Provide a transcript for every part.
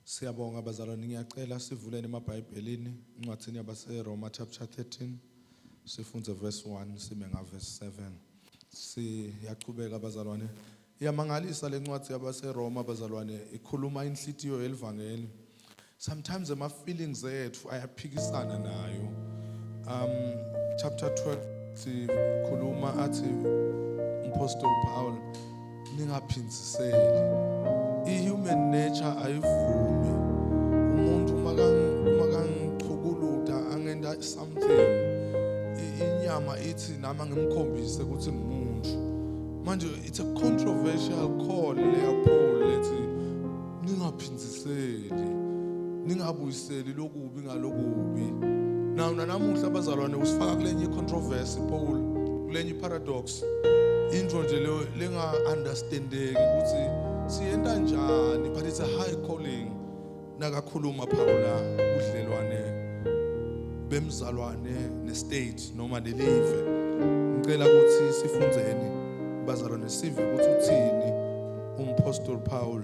Siyabonga bazalwane ngiyacela sivuleni emabhayibhelini incwadini yabaseRoma chapter 13 sifunde verse 1 sime nga verse 7 siyaqhubeka bazalwane iyamangalisa lencwadi yabaseRoma bazalwane ikhuluma inhlitiyo yelivangeli Sometimes ama feelings ethu ayaphikisana nayo. Um chapter 12 sikhuluma athi umpostoli Paul ningaphindiseli. I human nature ayivumi. Umuntu makangichukuluda angenda something. Inyama ithi nama ngimkhombise ukuthi ngimuntu. Manje it's a controversial call leya Paul lethi ningaphindiseli. ningabuyiseli ningabuyiseli lokubi ngalokubi nawu nanamuhla abazalwane usifaka kulenye icontroversy Paul kulenye iparadox intro nje leyo lenga understandeki ukuthi siyenta njani but it's a high calling nakakhuluma Paula udlelwane bemzalwane nestate noma nelive ngicela ukuthi sifunzeni bazalwane sive ukuthi uthini umphostoli Paul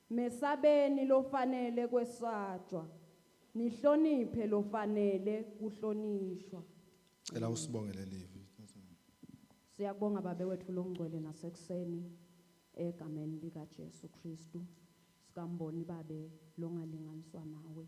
Mesabeni lofanele kwesatshwa, nihloniphe lofanele kuhlonishwa. Cela usibonge lelivi. Siyakubonga babe wethu longcwele nasekuseni egameni lika Jesu Kristu sikamboni babe longalinganiswa nawe.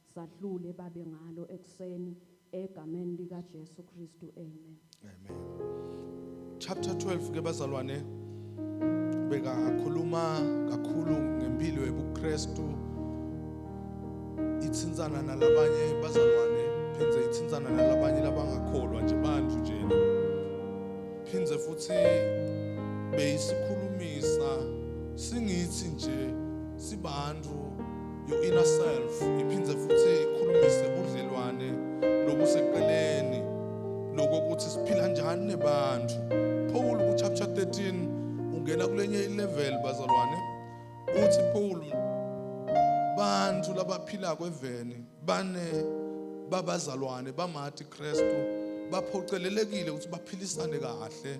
Sahlule babe ngalo ekuseni egameni lika Jesu Kristu amen. Amen. Chapter 12 ke bazalwane bekakhuluma kakhulu ngempilo yobuKristu ithintsana nalabanye bazalwane phindze ithintsana nalabanye labangakholwa nje bantu nje phindze futhi beyisikhulumisa singithi nje sibantu your inner self iphinde futhi ikhulumise ubudlelwane lobuseqeleni lokokuthi siphila njani nebantu Paul ku chapter 13 ungena kulenye ilevel bazalwane uthi Paul bantu labaphila kweveni bane babazalwane bamati Kristu baphocelelekile ukuthi baphilisane kahle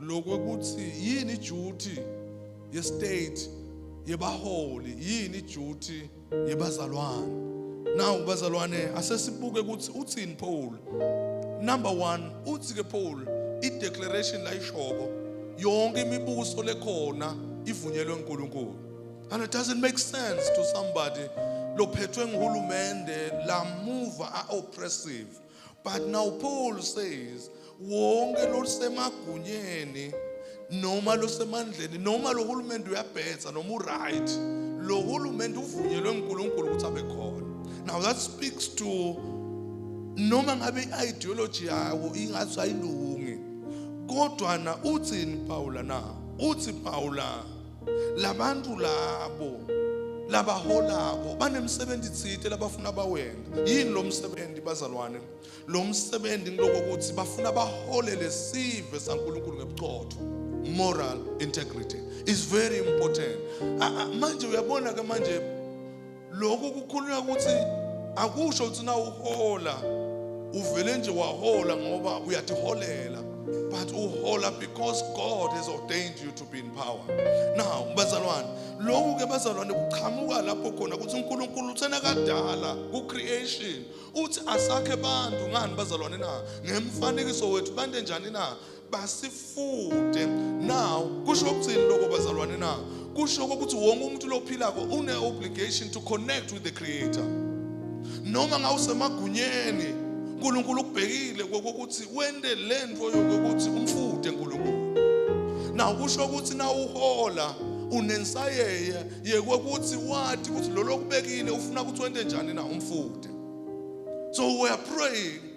lokuthi yini duty ye state yebaholi yini duty yebazalwane now bazalwane asesibuke ukuthi uthini Paul number 1 uthi ke Paul i declaration la ishoko yonke imibuso lekhona ivunyelwe uNkulunkulu and it doesn't make sense to somebody lophethwe nguhulumende lamuva a oppressive But now Paul says wonke losemagunyeni noma losemandleni noma lo hulumende uyabhetha noma uright lo hulumende uvunyelwe uNkulunkulu ukuthi abe khona now that speaks to noma ngabe i-ideology yawo ingathi ayilungi kodwa na uthini Paula na uthi Paula labantu labo labaholako banemsebenzi thite labafuna bawenza yini lo msebenzi bazalwane lo msebenzi ngiloko ukuthi bafuna bahole lesive saNkulunkulu ngebuchotho moral integrity is very important manje uyabona ke manje lokhu kukhulunywa ukuthi akusho ukuthi na uhola uvele nje wahola ngoba uyatiholela but uhola because God has ordained you to be in power now bazalwane lokhu ke bazalwane kuqhamuka lapho khona ukuthi uNkulunkulu uthena kadala ku creation uthi asakhe abantu ngani bazalwane na ngemfanekiso wethu bande njani na basifunde now kusho ukuthini lokho bazalwane na kusho ukuthi wonke umuntu lophilako une obligation to connect with the creator noma ngawusemagunyeni uNkulunkulu ukubhekile kokuthi wende lento yokuthi umfude uNkulunkulu na kusho ukuthi na uhola unensayeye yekokuthi wathi ukuthi lolokubekile ufuna ukuthi wende njani na umfude so we are praying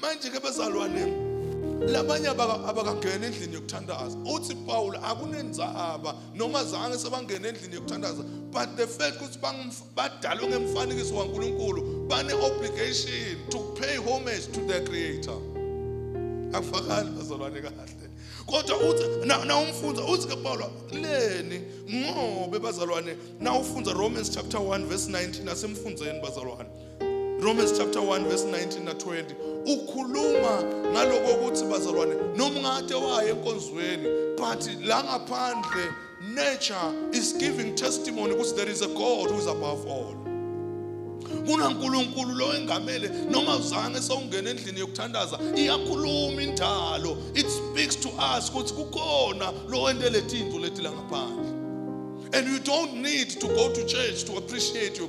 manje ke bezalwane labanye abakangena endlini yokuthandaza uthi Paul akunenzaba noma zange sebangena endlini yokuthandaza but the fact ukuthi badalwe ngemfanekiso kaNkuluNkulu bane obligation to pay homage to their creator akufakani bazalwane kahle kodwa uthi na umfundza uthi ke Paul leni ngobe bazalwane na ufundza Romans chapter 1 verse 19 asemfundzeni bazalwane Romans chapter 1 verse 19 na 20 ukhuluma ngaloko ukuthi bazalwane noma ungade waye enkonzweni but la ngaphandle nature is giving testimony ukuthi there is a God who is above all kunankulunkulu lo engamele noma uzange sewungena endlini yokuthandaza iyakhuluma indalo it speaks to us ukuthi kukhona lo wente letinto leti la ngaphandle and you don't need to go to church to appreciate your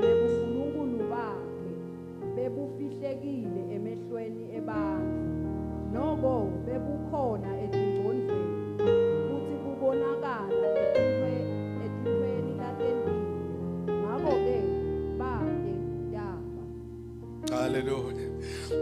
nebunkulunkulu bakhe bebufihlekile emehlweni ebantu noko bebukhona etingcondvweni futhi bubonakala ethintweni latembile ngako-ke bake yaba haleluya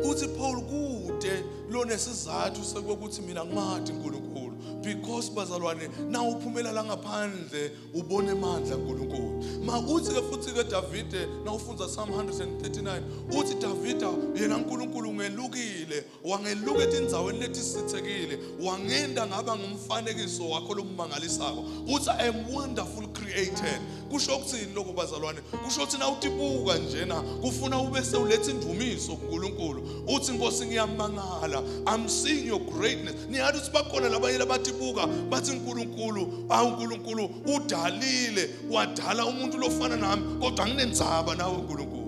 uthi paul kude lonesizathu sokuthi mina ngimathi unkulunkulu because bazalwane na uphumela la ngaphandle ubona emandla uNkulunkulu ma uthi ke futhi ke Davide nawufunza Psalm 139 uthi Davida yena uNkulunkulu ungelukile wangeluka etindzaweni lethi sithekile wangenda ngaba ngumfanekiso wakho lomangalisako uthi I am wonderful created kusho ukuthini lokho bazalwane kusho ukuthi na utibuka njena kufuna ube sewuletha indumiso kuNkulunkulu uthi Nkosi ngiyamangala i'm seeing your greatness niyathi ukuthi bakhona labanye labatibuka bathi uNkulunkulu awu uNkulunkulu udalile wadala umuntu lofana nami kodwa nginenzaba nawe uNkulunkulu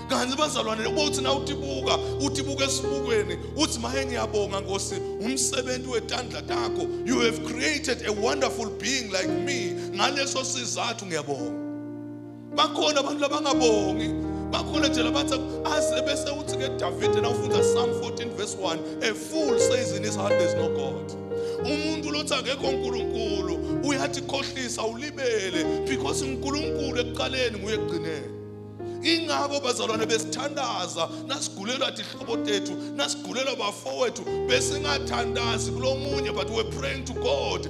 kanti bazalwane uma uthi na utibuka utibuka esibukweni uthi maye ngiyabonga Nkosi umsebenzi wetandla takho you have created a wonderful being like me ngaleso sizathu ngiyabonga bakhona abantu labangabongi bakhona nje labathi aze bese uthi ke Davide nawufunda Psalm 14 verse 1 a fool says in his heart there's no God umuntu lothi akekho uNkulunkulu uyathi khohlisa ulibele because uNkulunkulu ekuqaleni nguye ekugcineni ingakho bazalwane besithandaza nasigulelwa dihlobo tethu nasigulelwa bafowethu besingathandazi kulomunye but we're praying to God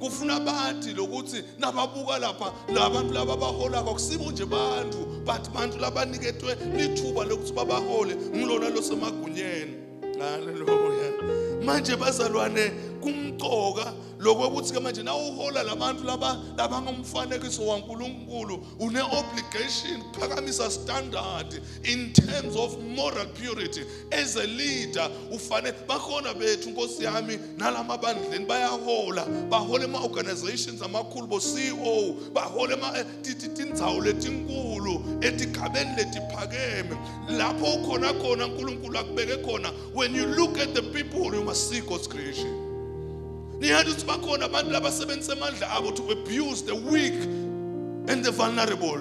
kufuna bathi lokuthi nababuka lapha labantu laba baholako akusibo nje bantu but bantu labaniketwe lithuba lokuthi babahole ngilona losemagunyeni haleluya manje bazalwane kumqoka lokokuthi ke manje nawuhola labantu laba labangumfanekiso waNkuluNkulu une obligation phakamisa standard in terms of moral purity as a leader ufanele bakhona bethu nkosi yami nalama bandleni bayahola bahola ema organizations amakhulu bo CEO bahola ema eh, tindzawo letinkulu etigabeni letiphakeme lapho ukhona khona uNkulunkulu akubeke khona when you look at the people you must see God's creation Niyati ukuthi bakhona abantu labasebenzisa amandla abo to abuse the weak and the vulnerable.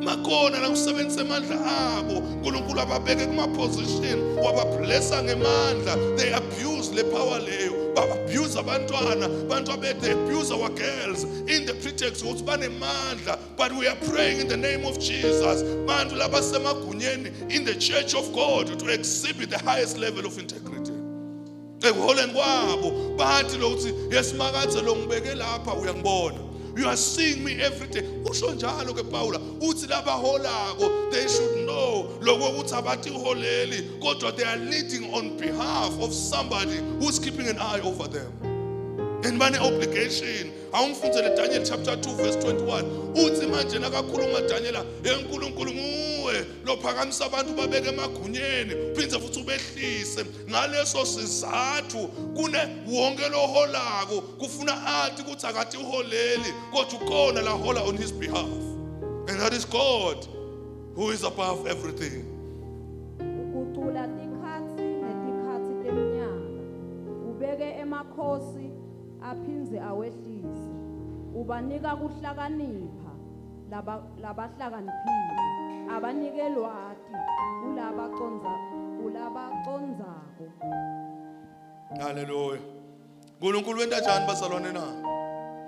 Makhona lakusebenzisa amandla abo uNkulunkulu ababeke kuma position wabablessa ngemandla they abuse le power leyo abuse abantwana abantu abethe abuse our girls in the pretext ukuthi banemandla but we are praying in the name of Jesus bantu labasemagunyeni in the church of God to exhibit the highest level of integrity ekuholeni kwabo bathi lokuthi yesimakaze lo ngibeke lapha uyangibona you are seeing me every day usho njalo ke Paula uthi labaholako they should know lokho ukuthi abathi uholeli kodwa they are leading on behalf of somebody who's keeping an eye over them and mane obligation awumfundzele Daniel chapter 2 verse 21 uthi manje nakakhuluma Daniela enkulunkulu nguwe lophakamisa abantu babeke emagunyeni uphinde futhi ubehlise ngaleso sizathu kune wonke loholako kufuna athi ukuthi akathi uholeli kodwa ukona lahola on his behalf and that is God who is above everything ukucula tikhatsi netikhatsi temnyaka ubeke emakhosi aphindze awehlise ubanika kuhlakanipha laba labahlakaniphile abanike lwati kulaba conza kulaba condzako haleluya uNkulunkulu wenta njani bazalwane na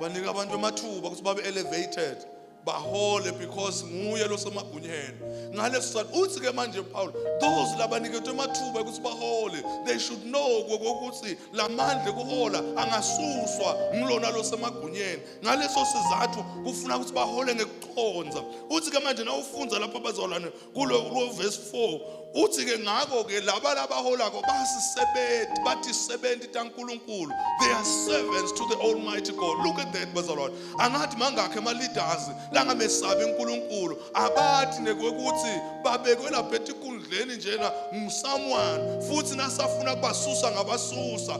banika abantu amathuba ukuthi babe elevated bahole because nguye losemagunyeni ngaleso sikhathi uthi ke manje Paul those labaniketwe amathuba ukuthi bahole they should know ukuthi lamandla kuhola angasuswa ngilona losemagunyeni ngaleso sizathu kufuna ukuthi bahole ngekuconza uthi ke manje nawufunza lapho abazolana kulo kulo verse 4 uthi ke ngakho ke laba labaholako basisebenzi bathi sebenzi taNkuluNkulu they are servants to the almighty God look at that bazalwane angathi mangakhe ama leaders langamesabi uNkuluNkulu abathi nekwekuthi babekwe lapha etikundleni njena someone futhi nasafuna kubasusa ngabasusa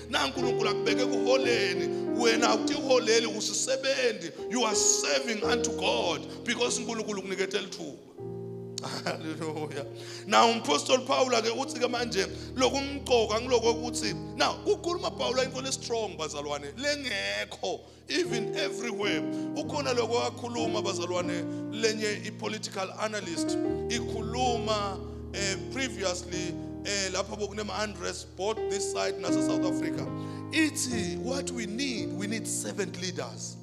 na uNkulunkulu akubeke kuholeni wena awutiholeli usisebenzi you are serving unto God because uNkulunkulu ukunikethe lithuba haleluya na umphostoli Paul ake uthi ke manje lokumqoka ngilokokuthi na ukhuluma Paul into le strong bazalwane lengekho even everywhere ukhona lokho wakhuluma bazalwane lenye ipolitical analyst ikhuluma eh, previously eh, lapha bokunema unrest both this side nase South Africa ithi what we need we need seven leaders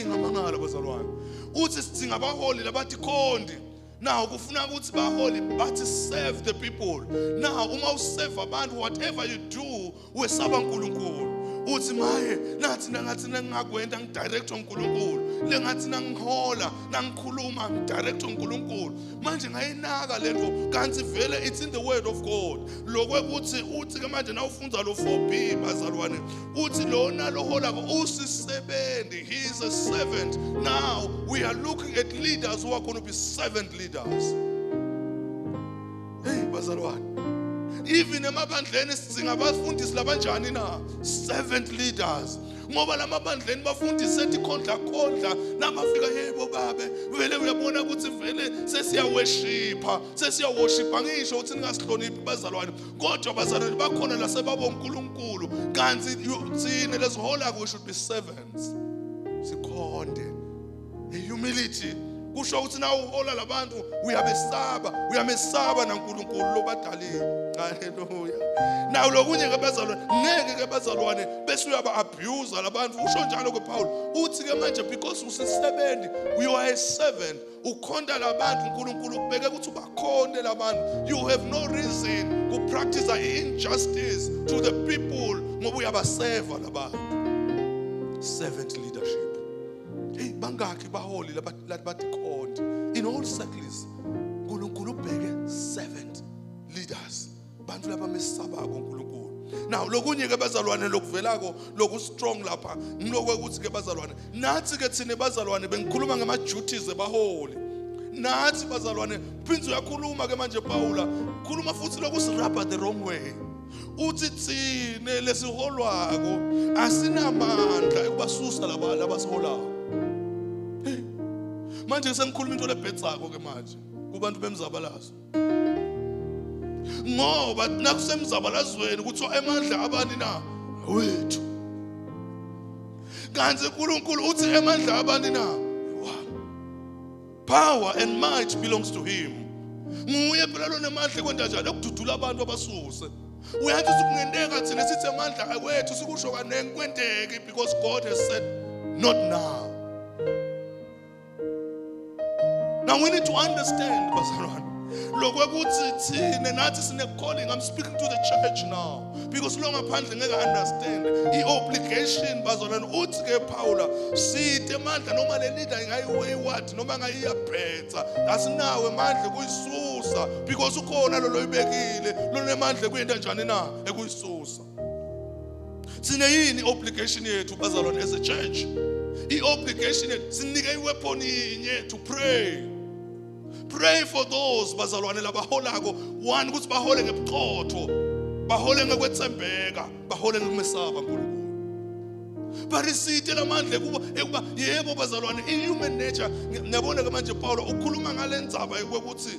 ingamangala bazalwane uthi sidinga abaholi labathi khondi Now kufuna ukuthi baholi bathi serve the people. Now uma usave abantu whatever you do wesaba uNkulunkulu. Uthi maye nathi nangathi nengakwenza ngidirect uNkulunkulu. Lengathi nangihola nangikhuluma ngidirect uNkulunkulu. Manje ngayinaka lento kanti vele it's in the word of God. Lokwe kuthi uthi ke manje nawufunza lo 4B bazalwane uthi lona loholako usisebenzi he is a servant now we are looking at leaders who are going to be servant leaders hey bazalwane even emabandleni sidzinga abafundisi labanjani na servant leaders ngoba lamabandleni bafundisi ethi khondla khondla namafika yebo babe vele uyabona ukuthi vele sesiyaweshipha sesiyawoshipa ngisho ukuthi ningasihloniphi bazalwane kodwa bazalwane bakhona la sebabonkulunkulu kanti thina lesihola kusho ukuthi servants sikhonde humility kusho ukuthi na uhola labantu uyabesaba uyamesaba naNkulunkulu lobadalile haleluya nawo lokunye ke bazalwane ngeke ke bazalwane bese uyaba abuse labantu usho njalo ke Paul uthi ke manje because usisebenzi you are a servant ukhonta labantu uNkulunkulu ubeke ukuthi ubakhonte labantu you have no reason to practice injustice to the people ngoba uyabaseva labantu servant leadership hey bangakhi baholi labathi khonti in all circles uNkulunkulu ubheke servant leaders abantu laba mesabako uNkulunkulu naw lokunye ke bazalwane lokuvelako loku strong lapha ngilokwe ukuthi ke bazalwane nathi ke thina bazalwane bengikhuluma ngama duties ebaholi nathi bazalwane phinzi uyakhuluma ke manje Paula khuluma futhi lokusirabha the wrong way uthi thina lesiholwako asinamandla ekubasusa laba labasiholako manje sengikhuluma into lebhedzako ke manje kubantu bemzabalazo ngoba nakusemzabalazweni kuthiwa emandla abani na wethu kanti uNkulunkulu uthi emandla abani na power and might belongs to him nguye phela lonemandla kwenta njalo ukududula abantu abasuse uyathi sikungenteka thina sithi amandla awethu sikusho kaningi kwenteke because God has said not now Now we need to understand, bazalwane. Lokwekuthi thina nathi sine calling. I'm speaking to the church now because lo ngaphandle ngeke understand. I obligation bazalwane uthi ke Paula sithe mandla noma le leader ingayiwayward noma ngayiyabhetha. Asinawe mandla kuyisusa because ukhona lo loyibekile. Lonemandla kuyinto njani na ekuyisusa. sine yini obligation yethu bazalwane as a church i-obligation yethu sinike iweapon yinye to pray pray for those bazalwane labaholako one ukuthi bahole ngebuchotho bahole ngekwethembeka bahole ngokumesaba nkulunkulu barisite lamandla ekuba ekuba yebo bazalwane i-human nature niyabona-ke manje pawulo ukhuluma ngale ndzaba yokuthi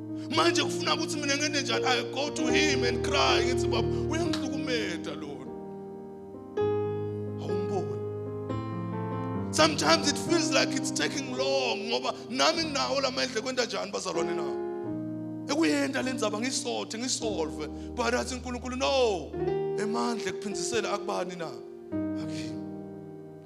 manje kufuna ukuthi mina ngene njani i go to him and cry ngithi baba uyangihlukumeza lona awumboni sometimes it feels like it's taking long ngoba nami nginawo lamandla kwenta njani bazalwane na ekuyenda lenzaba ngisothe ngisolve but athi uNkulunkulu no emandla ekuphindisela akubani na akini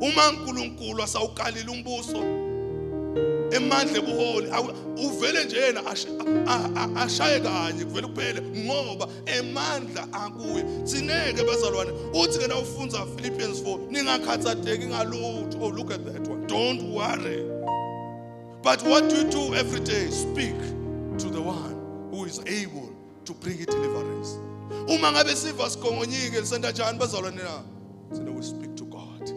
uma uNkulunkulu asawukalile umbuso emandla ebuholi uvele nje yena ashaye kanye kuvele kuphele ngoba emandla akuye sineke bazalwane uthi ke nawufunza Philippians 4 ningakhathateki ngalutho oh look at that one don't worry but what do you do every day speak to the one who is able to bring a deliverance uma ngabe siva sigongonyike senta njani bazalwane na sina we speak to god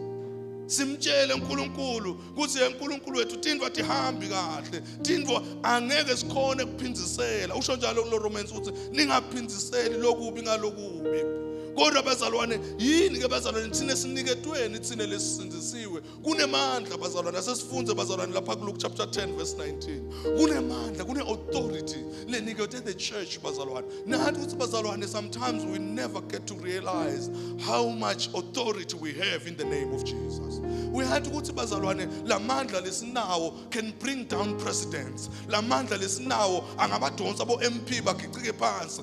simtshele uNkulunkulu ukuthi uNkulunkulu wethu tindwa tihambi kahle tindwa angeke sikhone kuphindisela usho njalo kulo Romans ukuthi ningaphindiseli lokubi ngalokubi kodwa bazalwane yini ke bazalwane thina siniketweni thina lesisindisiwe kunemandla bazalwane asesifunde bazalwane lapha kuluke chapter 10 verse 19 kunemandla kune-authority lenikethe the church bazalwane nathi ukuthi bazalwane sometimes we never get to realize how much authority we have in the name of jesus we had ukuthi bazalwane la mandla lesinawo can bring down presidents la mandla lesinawo angabadonsa bo-mp bagicike phansi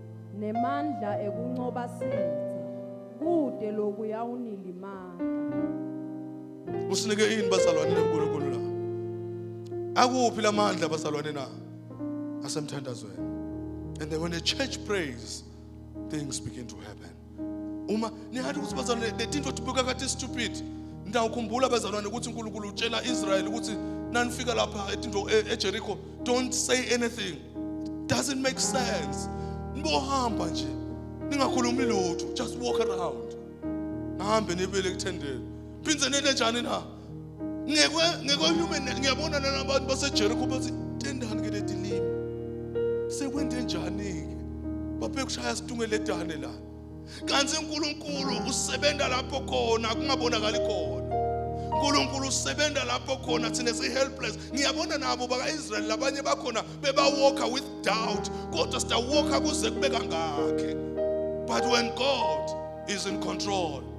nemandla ekuncoba sitha kude loku yawunilimaka usinike yini bazalwane lenkulunkulu la akuphi lamandla bazalwane na asemthandazweni and then when the church prays things begin to happen uma nihathi ukuthi bazalwane the things otibukeka kathi stupid ndawukhumbula bazalwane ukuthi uNkulunkulu utshela Israel ukuthi nanifika lapha etinto e, eJericho don't say anything doesn't make sense nibohamba nje ningakhulumi lutho just walk around nihambe nibele kuthendeni phindze nete njani na ngekwe ngekwe human ngiyabona nalabantu baseJericho bathi tendani ke letilimi sekwende njani ke baphe kushaya situnge ledane la kanti uNkulunkulu usebenza lapho khona kungabonakali khona uNkulunkulu usebenza lapho khona thina si helpless ngiyabona nabo baka Israel labanye bakhona beba walker with doubt kodwa sita walker kuze kube kangakhe but when God is in control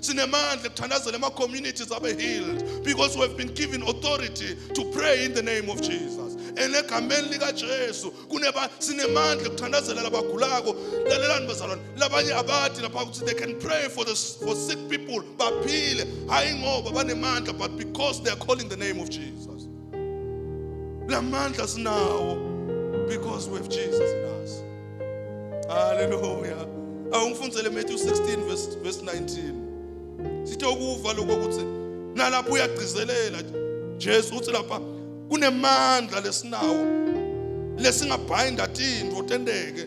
sinemandla ekuthandazela ama-communities abe healed because we have been given authority to pray in the name of jesus and egameni likajesu kuneba sinemandla ekuthandazela labagulako lalelani bazalwane labanye abadi lapha ukuthi they can pray for, the, for sick people baphile hhayi ngoba banemandla but because they are calling the name of jesus lamandla sinawo because we have Jesus in us haleluya awungifundzele Matthew 16 verse verse 19 sithe ukuva lokho ukuthi nalapho uyagcizelela Jesu uthi lapha kunemandla lesinawo lesingabhayinda tintfo tenteke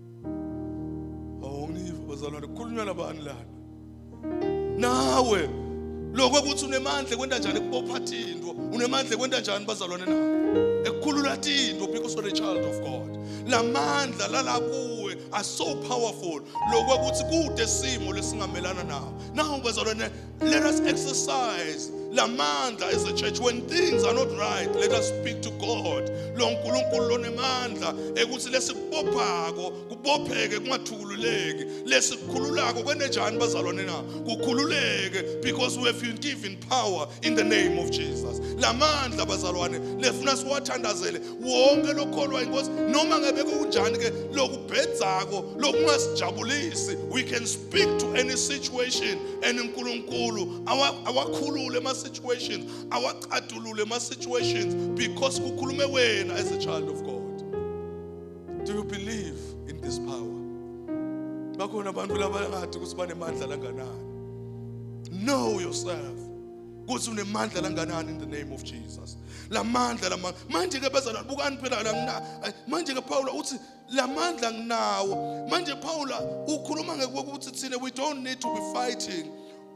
awungiva bazalwane kukhulunywa nabani lana nawe lokho ukuthi unemandla kwenta njani kubopha thinto unemandla kwenta njani bazalwane na ekukhulula thinto because you're a child of God lamandla lala kuwe are so powerful lokho ukuthi kude simo lesingamelana nawo nawo bazalwane Let us exercise lamandla as a church when things are not right let us speak to God lo nkulunkulu lonemandla ekuthi lesikubophako kubopheke kungathukululeki lesikhululako kwenejani bazalwane na kukhululeke because we have been given power in the name of Jesus lamandla bazalwane lefuna siwathandazele wonke lokholwa inkosi noma ngebe kunjani ke lokubhedzako lokungasijabulisi we can speak speak to any situation and uNkulunkulu awakhulule ama situations awacadulule ama situations because kukhulume wena as a child of God do you believe in this power bakhona abantu labangathi ukuthi banemandla langanani know yourself kuthi unemandla langanani in the name of Jesus lamandla lamandla manje ke bezalwa bukani phela la manje ke Paul uthi la mandla nginawo manje Paul ukhuluma ngekuthi thina we don't need to be fighting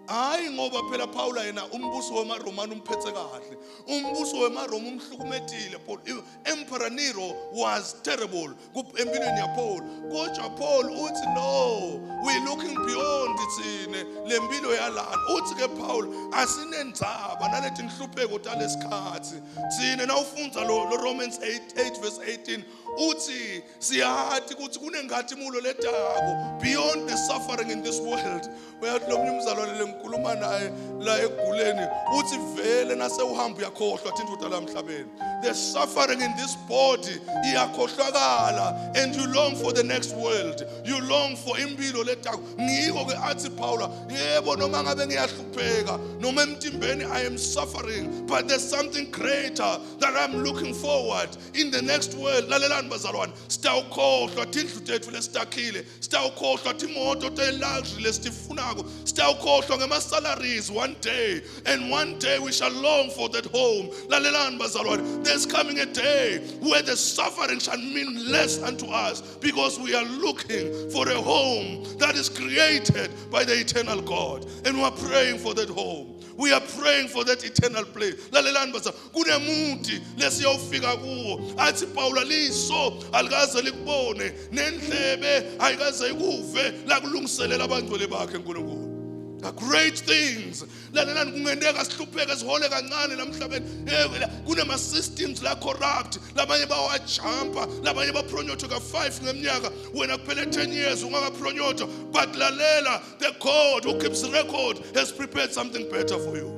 hayi ngoba phela Paul yena umbuso wemaRomani umphethe kahle umbuso wemaRoma umhlukumedile Paul Emperor Nero was terrible empilweni yaPaul kodwa Paul uthi no we looking beyond thina lempilo yalana uthi ke Paul asinenzaba naleti nhlupheko talesikhathi thina nawufunda lo Romans 8 8 verse 18 uthi siyathi ukuthi kunengathimulo ledako beyond the suffering in this world uyathi lo mnye umzalwane lengikhuluma naye la eguleni uthi vele nasewuhamba uyakhohlwa thinta ukuthi la mhlabeni the suffering in this body iyakhohlwakala and you long for the next world you long for impilo ledako ngiko ke athi Paula yebo noma ngabe ngiyahlupheka noma emtimbeni i am suffering but there's something greater that i'm looking forward in the next world lalelani bazalwane sitawukhohlwa tindlu tethu lesitakhile sitawukhohlwa timoto te-luxury lesitifunako sitawukhohlwa ngema-salaries one day and one day we shall long for that home lalelani bazalwane there's coming a day where the suffering shall mean less unto us because we are looking for a home that is created by the eternal god and we are praying for that home we are praying for that eternal place lalelani baza kunemuthi lesiyofika kuwo athi pawula liso alikaze likubone nendlebe ayikaze ikuve lakulungiselela abangcwele bakhe uNkulunkulu The great things lalelani kungenteka sihlupheke sihole kancane la mhlabeni kunema-systems la corrupt labanye bawajampa labanye bapronyotho ka-five ngeminyaka wena kuphele ten years ungakapronyotho but lalela The God who keeps record has prepared something better for you.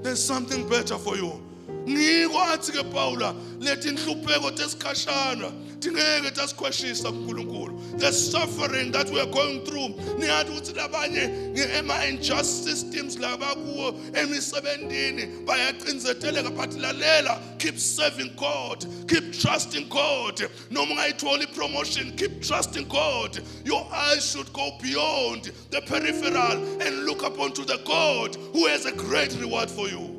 There's something better for you. ngiko athi ke Pawula leti inhlupheko tesikhashana tingeke tasikhweshisa kuNkulunkulu the suffering that we are going through niyathi ukuthi labanye ema injustice teams laba kuwo emisebenzini bayacinzeteleka but lalela keep serving God keep trusting God noma ungayithola i-promotion keep trusting god your eyes should go beyond the peripheral and look up unto the god who has a great reward for you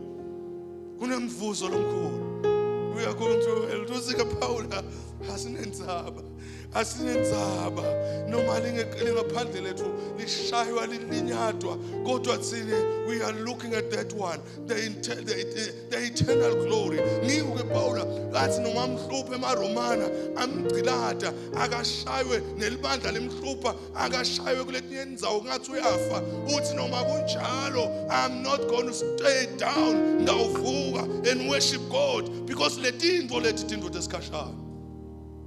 kunemvuzo lomkhulu we are going to hell tusika phawula asinendzaba asinendzaba noma lingaphandle lethu lishaywa lilinyadwa kodwa thina we are looking at that one the, the, the the eternal glory ngikuke pawula kathi noma amhluphe emaromana amgcilada akashaywe nelibandla limhlupha akashaywe kuletinye indawo ngathi uyafa uthi noma kunjalo i'm not going to stay down ngawuvuka and worship god because letintfo lethi tintfo tesikhashana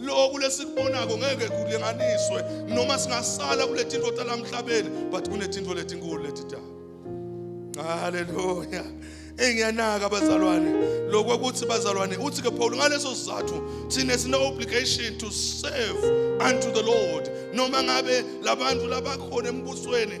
loku lesikubonako ngeke kulinganiswe noma singasala kuletintfo talamhlabeni but kunetintfo letinkulu letitako haleluya engiyanaka bazalwane lokho ukuthi bazalwane uthi ke Paul ngaleso sizathu thina sine obligation to serve unto the Lord noma ngabe labantu labakhona embusweni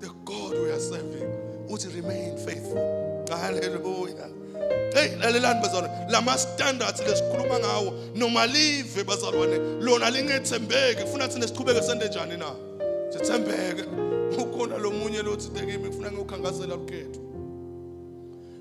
the God we are serving uthi remain faithful haleluya hey lalelani bazalwane lama standards lesikhuluma ngawo noma live bazalwane lona lingethembeki kufuna thina siqhubeke sende njani na sithembeke ukhona lomunye lothi tekimi kufuna ngiyokhankasela lukhetho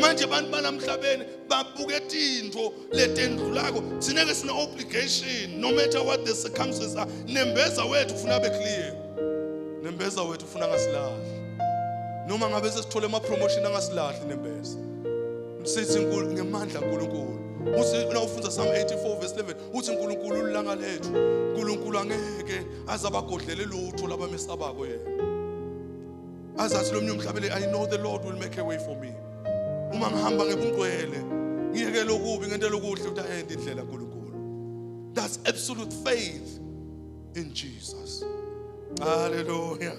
manje abantu balamhlabeni babuke tintfo letendlulako thina ke sine obligation no matter what the circumstances are nembeza wethu ufuna abe clear nembeza wethu ufuna ngasilahli noma ngabe sesithole ama promotion angasilahli nembeza msithi nkulu ngemandla uNkulunkulu uthi nawufunda Psalm 84 verse 11 uthi uNkulunkulu ulanga lethu uNkulunkulu angeke azabagodlele lutho labamesabako yena azathi lo mnye umhlabele i know the lord will make a way for me uma ngihamba ngebungcwele ngiyekele okubi ngentela okuhle ukuthi ayende indlela nkulunkulu that's absolute faith in jesus haleluya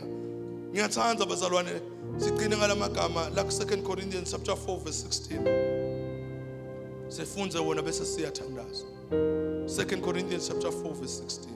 ngiyathanda bazalwane siqine ngalamagama la ku 2 Corinthians chapter 4 verse 16 sifunde wona bese siyathandaza 2 Corinthians chapter 4 verse 16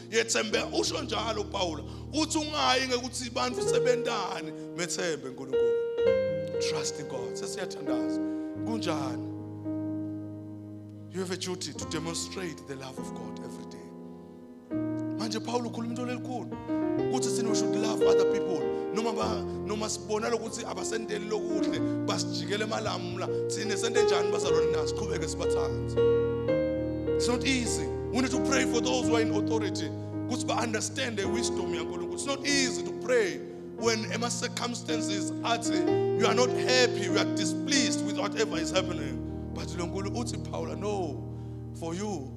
yethembeka usho njalo uPawula uthi ungayi ngekuthi abantu sebentani methembe uNkulunkulu trust in God sesiyathandaza kunjani you have a duty to demonstrate the love of God every day manje Paulo ukhuluma into lelikhulu ukuthi sino should love other people noma ba noma sibona lokuthi abasendeli lokuhle basijikele emalamula thina sente njani bazalwane na siqhubeke sibathande it's not easy we need to pray for those who are in authority ukuthi ba understand the wisdom yaNkulunkulu it's not easy to pray when ema circumstances athi you are not happy you are displeased with whatever is happening but loNkulunkulu uthi Paula no for you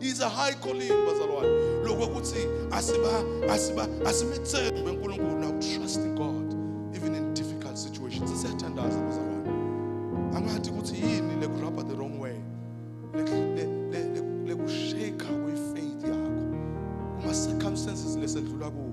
is a high calling bazalwane lokho ukuthi asiba asiba asimethembe uNkulunkulu now trust in God even in difficult situations siyathandaza bazalwane angathi ukuthi yini le grabber the wrong way le kushake kwi faith yakho kuma circumstances lesedlula kuwo